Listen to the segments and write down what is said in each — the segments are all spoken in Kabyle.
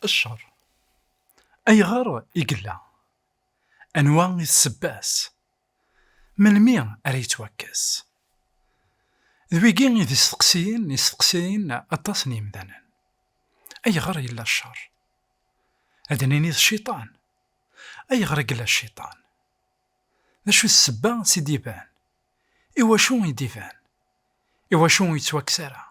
الشر ayɣer i yella anwa i tsebbas melmi ara yettwakkes d wigi i d isteqsiyen isteqsiyen aṭas n yimdanen ayɣer yella ccer ad nini d cciṭan ayɣer i yella cciṭan d acu d ssebba s i d-iban Iwacu i d-iban? Iwacu ur yettwakkes ara?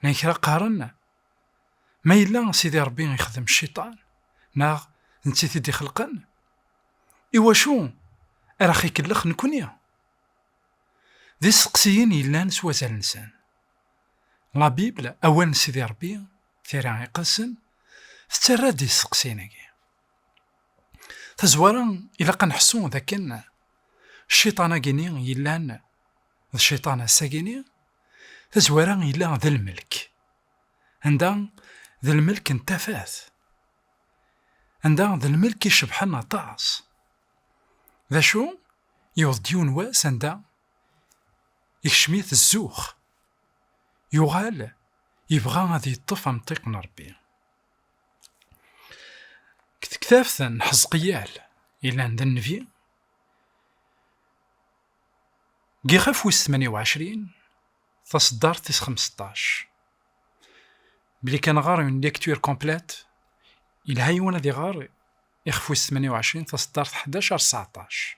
Llan kra qqaren, Ma yella Sidi Rebbi ixdem cciṭan, neɣ d netta i t-id-ixelqen, iwacu ara ɣ-ikellex nekkni? D isteqsiyen yellan s wazal-nsen. La Bible, Awal n Sidi Rebbi, Tira Iqedsen, tettarra-d isteqsiyen-agi. Tazwara, ilaq ad nḥessu d akken cciṭan-agi-ni yellan d cciṭan ass-agi-ni, tazwara yella d lmelk, anda d lmelk n tafat, anda d lmelk icebḥen aṭas. D acu, yewweḍ-d yiwen n wass anda ikcem-it zzux, yuɣal yebɣa ad yeṭṭef amṭiq n Rebbi. Deg tektabt n Ḥezqiyal yellan d nnbi, deg ixef wis 28, taṣeddart tis 15. Bli kan ɣer une lecture complète, yelha yiwen ad iɣer ixef wis 28, taṣeddart 11 ar 19,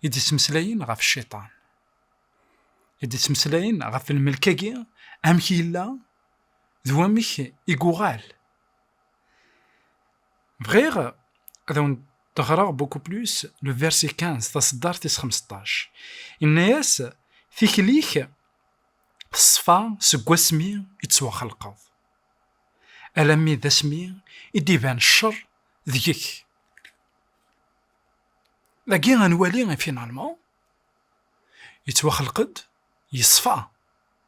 i d-yettmeslayen ɣef cciṭan. I d-yettmeslayen ɣef lmelk-agi, amek yella, d wamek i yuɣal. Bɣiɣ ad awen-d-ɣreɣ beaucoup plus le verset 15, taṣeddart tis xemseṭṭac. Yenna-yas, Tikli-k teṣfa seg wasmi i d-tettwaxelqeḍ, alammi d asmi i d-iban ccer deg-k. Dagi ad nwali finalement, yettwaxelq-d yeṣfa.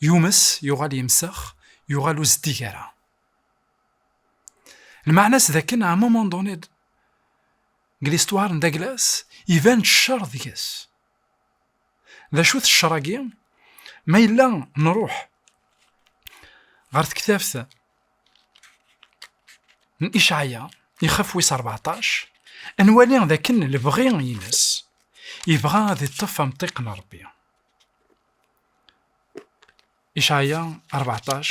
yumes, yuɣal yemsex, yuɣal ur zeddig ara. Lmeɛna-s d akken à un moment donné deg l'histoire n Daglas iban-d ccer deg-s. D acu-t ccer-agi? Ma yella nruḥ ɣer tektabt n Icaɛya ixef wis 14 ad nwali d akken lebɣi-ines yebɣa ad iṭṭef amṭiq n Rebbi. Icɛaya rbeɛṭac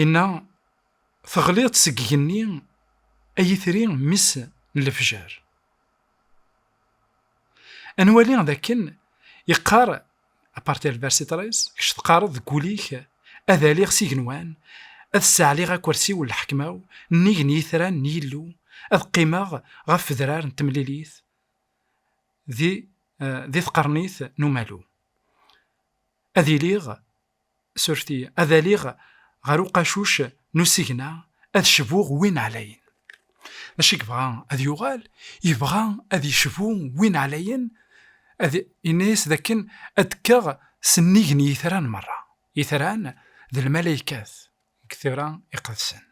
inna, Teɣliḍ-d seg igenni, ay itri mmi-s n lefjer. Ad nwali d akken yeqqar aparti al versi tres, kečč teqqareḍ deg wul-ik, ad aliɣ s igenwan, ad ssaɛliɣ akersi-w n lḥekma-w, nnig n yitran n Yillu, ad qqimeɣ ɣef wedrar n temlilit, di di tqernit n umalu. Ad iliɣ, surti, ad aliɣ ɣer uqacuc n usigna, ad cbuɣ win ɛlayen. D acu i yebɣa ad yuɣal? Yebɣa ad yecbu win ɛlayen, ad yenna-yas d akken ad kkeɣ s nnig n yitran merra. Itran d lmalaykat deg tira iqedsen.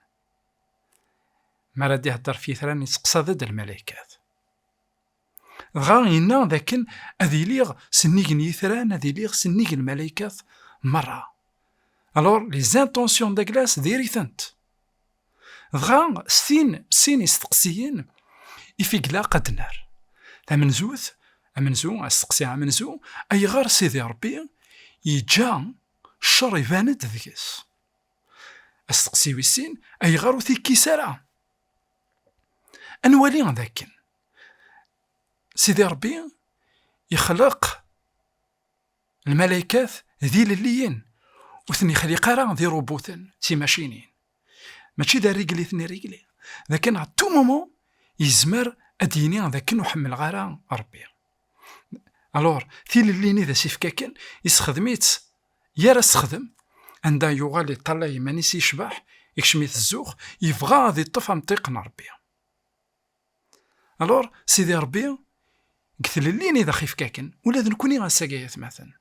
Mi ara d-ihedder ɣef yitran, yesteqsa-d lmalaikat. Dɣa yenna d akken ad iliɣ s nnig n yitran, ad iliɣ s nnig n lmalaikat merra. Alors, les intentions de glace diri-tent. Dɣa s tin, sin isteqsiyen i figleaq ad d-nerr. Tamenzut, amenzu, asteqsi amenzu, ayɣer Sidi Rebbi yeǧǧa ccer iban-d deg-s? Asteqsi wis sin, ayɣer ur t-ikkis ara? Ad nwali d akken Sidi Ṛebbi ixleq lmalaykat d ilelliyen, ur ten-ixliq ara d irubuten, d timacinin. Mačči d arrigel i ten-irigli, d akken a tou moment yezmer ad d-yini d akken ur ḥemmleɣ ara Ṛebbi. Alors, tilelli-nni d asifk akken, yessexdem-itt yar assexdem, anda yuɣal yeṭṭala iman-is yecbeḥ, ikcem-it zzux, yebɣa ad yeṭṭef amṭiq n Rebbi. Alors, Sidi Rebbi, deg tlelli-nni d axifk akken, ula d nekni ass-agi ay atmaten.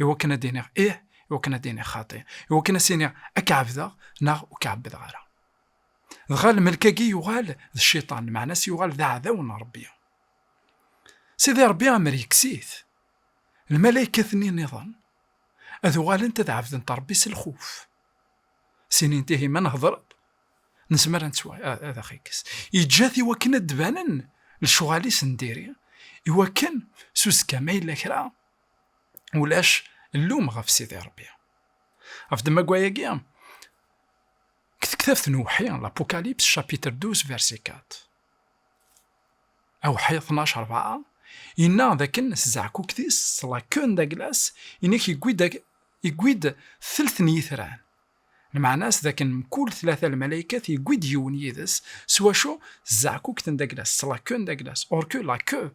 iwakken ad d-iniɣ ih, iwakken ad d-iniɣ xaṭi, iwakken ad s-iniɣ ad k-ɛebdeɣ neɣ ur k-ɛebbdeɣ ara. Dɣa lmelk-agi yuɣal d cciṭan, meɛna-s yuɣal d aɛdaw n Ṛebbi. Sidi Ṛebbi amer yekkes-it, lmalaykat-nni nniḍen ad uɣalent ad ɛebdent Ṛebbi s lxuf, s inint, Ihi ma nehder-d, nezmer ad nettwa, ad aɣ-ikkes. Yeǧǧa-t iwakken ad d-banen lecɣal-is n diri, iwakken s uzekka ma yella kra ulac llum ɣef Sidi Rebbi. Ɣef ddemma-agi, deg tektabt n Uwḥi, l'Apocalypse, chapitre 12, verset 4. Awḥi 12, 4, yenna dakken s zeɛkukt-is, s lakun d aglas, inek yewwi-d telt n yitran. Lmeɛna-s dakken mkul tlata lmalaykat yewwi-d yiwen yid-s, s wacu? S zeɛkukt n d aglas, s lakun d aglas, or que la queue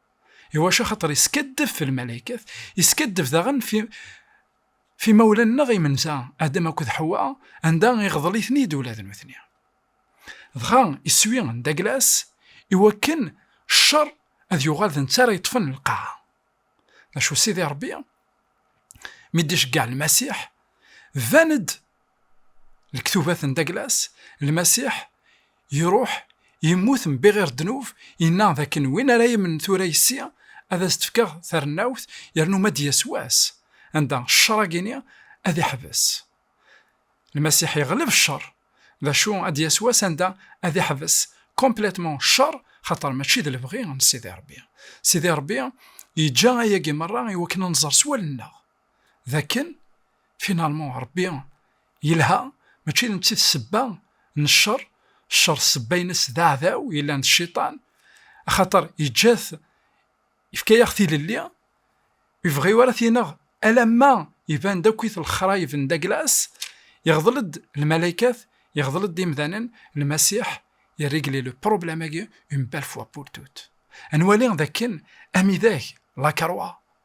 iwacu axaṭer yeskaddeb fi lmalaykat, yeskaddeb daɣen fi fi imawlan-nneɣ imenza, Adam akked Ḥewwa, anda iɣḍel-iten-id ula d nutni. Dɣa iswi n Daglas iwakken ccer ad yuɣal d netta ara yeṭṭfen lqaɛa. D acu Sidi Ṛebbi mi d-iceggeɛ Lmasiḥ, tban-d Lektubat n Daglas, Lmasiḥ iruḥ, yemmut mbi ɣir ddnub, yenna dakken win ara yemnen tura yes-i, ad as-d-fkeɣ tarennawt, yernu ma d-yas wass anda ccer-agi-ni ad iḥbes. Lmasiḥ yeɣleb ccer, d acu ad d-yas wass anda ad iḥbes complètement ccer, xaṭer mačči d lebɣi n Sidi Ṛebbi. Sidi Ṛebbi yeǧǧa ayagi meṛṛa i wakken ad nẓer s wallen-nneɣ. dakken finalement Rebbi yelha mačči d netta i d sebba n ccer, ccer sebba-ines d aɛdaw yellan d cciṭan, axaṭer yeǧǧa-t yefka-yaɣ tilelli, ur yebɣi ara ad t-ineɣ alamma iban-d akk-it lexrayeb n Daglas, iɣḍel-d lmalaykat, iɣḍel-d imdanen, Lmasiḥ i régler le problème-agi une belle fois pour toutes. Ad nwali dakken amidag, la croix,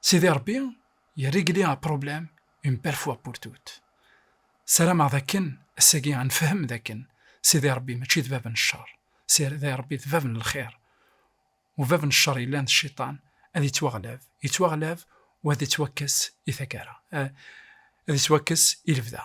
Sidi Rebbi yerrigli un problème une belle fois pour toutes. Sarameɣ d akken ass-agi ad nefhem d akken Sidi Rebbi mačči d bab n ccer, Sidi Rebbi d bab n lxir. U bab n ccer yellan d cciṭan ad yettwaɣlab, yettwaɣlab u ad ittwakkes i taggara, ad ittwakkes i lebda.